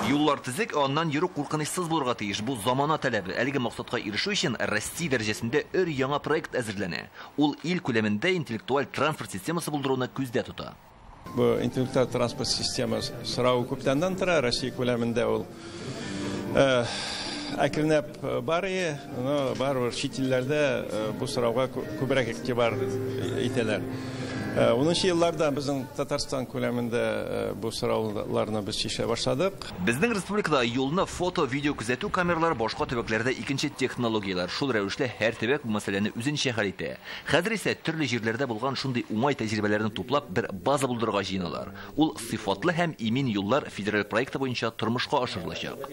Юллар төзек, ә аннан йөрү куркынычсыз булырга тиеш. Бу замана таләбе. Әлеге максатка ирешү өчен Россия дәрәҗәсендә өр-яңа проект әзерләнә. Ул ил күләмендә интеллектуаль транспорт системасы булдыруны күздә тота. Бу интеллектуаль транспорт система сорау күптәннән тора, Россия күләмендә ул э, әкренләп э, бар ие, но барыбер чит илләрдә э, бу сорауга күбрәк игътибар итәләр. Унынчы елларда безнең Татарстан күләмендә бу сорауларны без чишә башладык. Безнең республикада юлны фото-видео күзәтү камералары башка төбәкләрдә икенче технологияләр. Шул рәвешле һәр төбәк бу мәсьәләне үзенчә хәл итә. Хәзер исә төрле җирләрдә булган шундый уңай тәҗрибәләрне туплап, бер база булдырырга җыеналар. Ул Сыйфатлы һәм имин юллар федераль проекты буенча тормышка ашырылачак.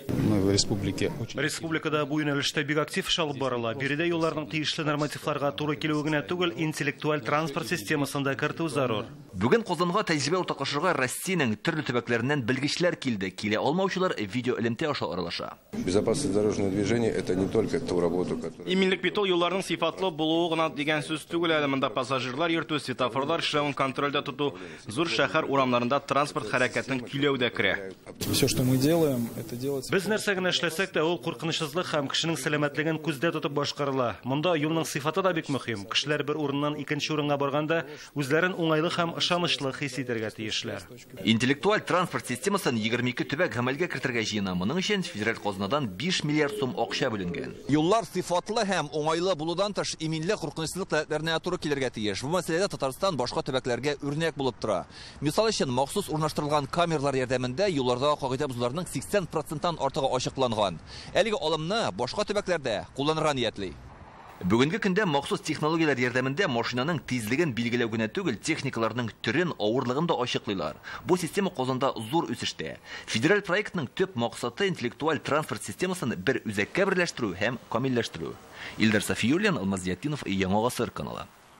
Республикада бу юнәлештә бик актив эш алып барыла. Биредә юлларның тиешле нормативларга туры килүе генә түгел, интеллектуаль транспорт системасын да кертү зарур. Бүген Казанга тәҗрибә уртаклашырга Россиянең төрле төбәкләреннән белгечләр килде. Килә алмаучылар видеоэлемтә аша аралаша. Безопасность дорожного движения – это не только ту работу, которая... Иминлек бит ул юлларның сыйфатлы булуы гына дигән сүз түгел әле. Монда пассажирлар йөртү, светофорлар эшләвен контрольдә тоту, зур шәһәр урамнарында транспорт хәрәкәтен көйләү дә керә. Все, что мы делаем, это делать... Без нәрсә генә эшләсәк тә, ул куркынычсызлык һәм кешенең сәламәтлеген күздә тотып башкарыла. Монда юлның сыйфаты да бик мөһим. Кешеләр бер урыннан икенче урынга барганда, үзләрен уңайлы һәм ышанычлы хис итәргә тиешләр. Интеллектуаль транспорт системасын 22 төбәк гамәлгә кертергә җыена. Моның өчен федераль казнадан 5 миллиард сум акча бүленгән. Юллар сыйфатлы һәм уңайлы булудан тыш, иминлек, куркынычсызлык таләпләренә туры килергә тиеш. Бу мәсьәләдә Татарстан башка төбәкләргә үрнәк булып тора. Мисал өчен, махсус урнаштырылган камералар ярдәмендә юллардагы кагыйдә бозуларның 80 проценттан артыгы ачыкланган. Әлеге алымны башка төбәкләр дә кулланырга ниятли. Бүгенге көндә махсус технологияләр ярдәмендә машинаның тизлеген билгеләү генә түгел, техникаларның төрен, авырлыгын да ачыклыйлар. Бу система Казанда зур үсештә. Федераль проектның төп максаты, интеллектуаль транспорт системасын бер үзәккә берләштерү һәм камилләштерү. Илдар Сафиуллин, Алмаз Зиятдинов, Яңа гасыр каналы.